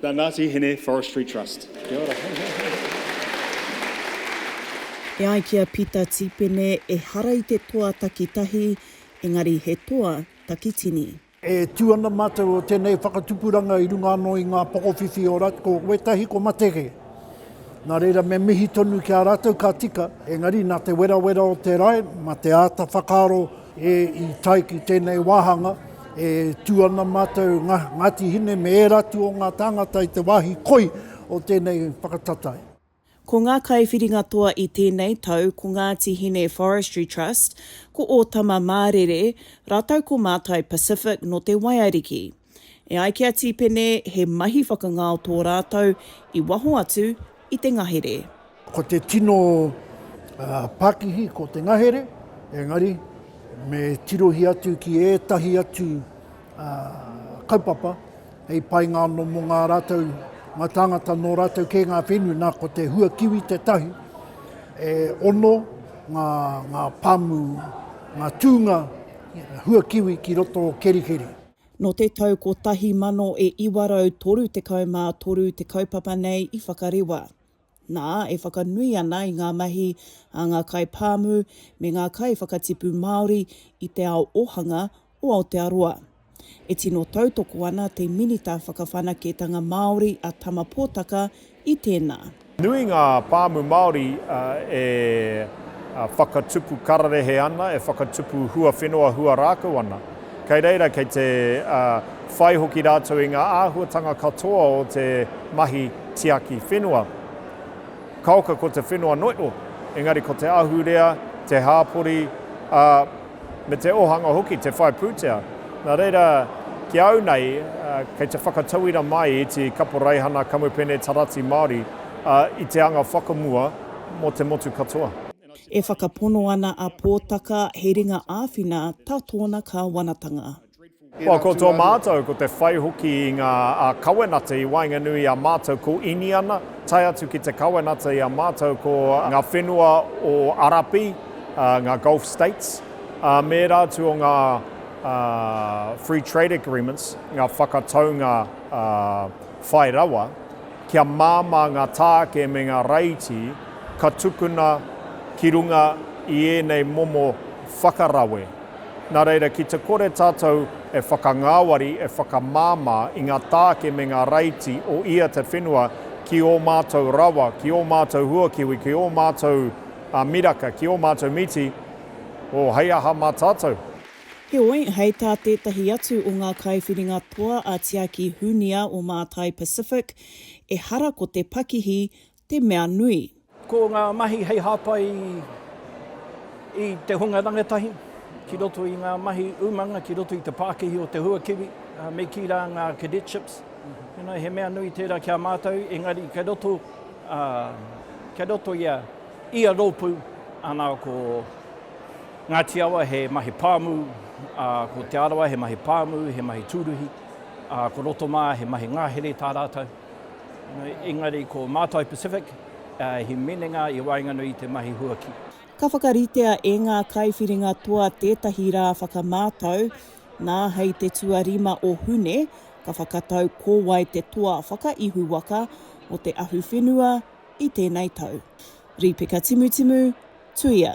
The Ngati Hine Forestry Trust. Kia ora. E ai ki a Pita Tipene, ehara i te toa takitahi, engari he toa takitini. E tū ana mātou o tēnei whakatupuranga i runga anō i ngā pokowhiwhi o Rat, ko wētahi ko Matege. Nā reira me mihi tonu ki a rātou ka tika, engari nā te werawera o te rae, mā te āta whakaaro, E, i tae ki tēnei wāhanga, e tū ana mātou Nga, Ngāti Hine me ērā atu o ngā tāngata i te wāhi koi o tēnei whakatatai. Ko ngā kaiwhiringa toa i tēnei tau ko Ngāti Hine Forestry Trust, ko Ōtama Mārere, rātou ko Mātai Pacific nō Te Waiariki. E ai ki a Tīpene, he mahi whakangao tō rātou i waho atu i te ngahere. Ko te tino pakihi ko te ngahere, engari me tirohia atu ki ētahi atu kaupapa hei painga anō mō ngā rātou, ngā tāngata nō rātou kē ngā whenua, nā ko te hua kiwi tētahi. E ono ngā, ngā pāmu, ngā tūnga hua kiwi ki roto o Kerikeri. Nō te tau 1933 te kaupapa nei i whakarewa. Nā, e whakanui ana i ngā mahi a ngā kaipāmu me ngā kaiwhakatipu Māori i te ao ōhanga o Aotearoa. E tino tautoko ana te Minita Whakawhanaketanga Māori a Tama Potaka i tēnā. Nui ngā pāmu Māori e whakatupu kararehe ana, e whakatupu huawhenua huarākau ana. Kei reira kei te whai hoki rātou i ngā āhuatanga katoa o te mahi tiaki whenua. Kaoka ko te whenua noio, engari ko te ahurea, te hāpori, ā, me te ōhanga hoki, te whai pūtea. Nā reira, ki a au nei, kei te whakatauira mai i te kaporeihana kamupene tarati Māori i te anga whakamua mō te motu katoa. E whakapono ana a Pōtaka he ringa āwhina tā tōna kāwanatanga. Kua koto mātou, ko te whai hoki i ngā kawenata i waenganui i a mātou ko Iniana, tae atu ki te kawenata i a mātou ko ngā whenua o Arapi, ngā Gulf States, ā, mēra atu o ngā Free Trade Agreements, ngā whakataunga whai rawa, kia māmā ngā tāke me ngā raiti ka tukuna ki runga i ēnei momo whakarawe. Nā reira, ki te kore tātou e whakangāwari, e whakamāmā i ngā tāke me ngā raiti o ia te whenua ki ō mātou rawa, ki ō mātou huakiwi, ki ō mātou miraka, ki ō mātou miti, oh, hei aha mā tātou? Heoi, hei tā tētahi atu o ngā kaiwhiringa toa a Tiaki Hunia o Mātai Pacific, ehara ko te pakihi te mea nui. Ko ngā mahi hei hāpai i te hunga rangatahi ki roto i ngā mahi umanga ki roto i te pākihi o te huakiwi, me kī rā ngā cadetships, he mea nui tērā ki a mātou, engari kei roto, kei roto i a ia rōpū, ana ko Ngāti Awa he mahi pāmu, ko Te Arawa he mahi pāmu, he mahi tūruhi, ko Rotomā he mahi ngahere tā rātou. Engari ko Mātai Pacific he minenga i waenganui i te mahi huaki. Ka whakaritea e ngā kaiwhiringa toa tētahi rā whakamātau, nā hei te tuarima o Hune, ka whakatau ko wai te toa whakaihuwaka o te ahuwhenua i tēnei tau. Rīpeka Timutimu, Tuia.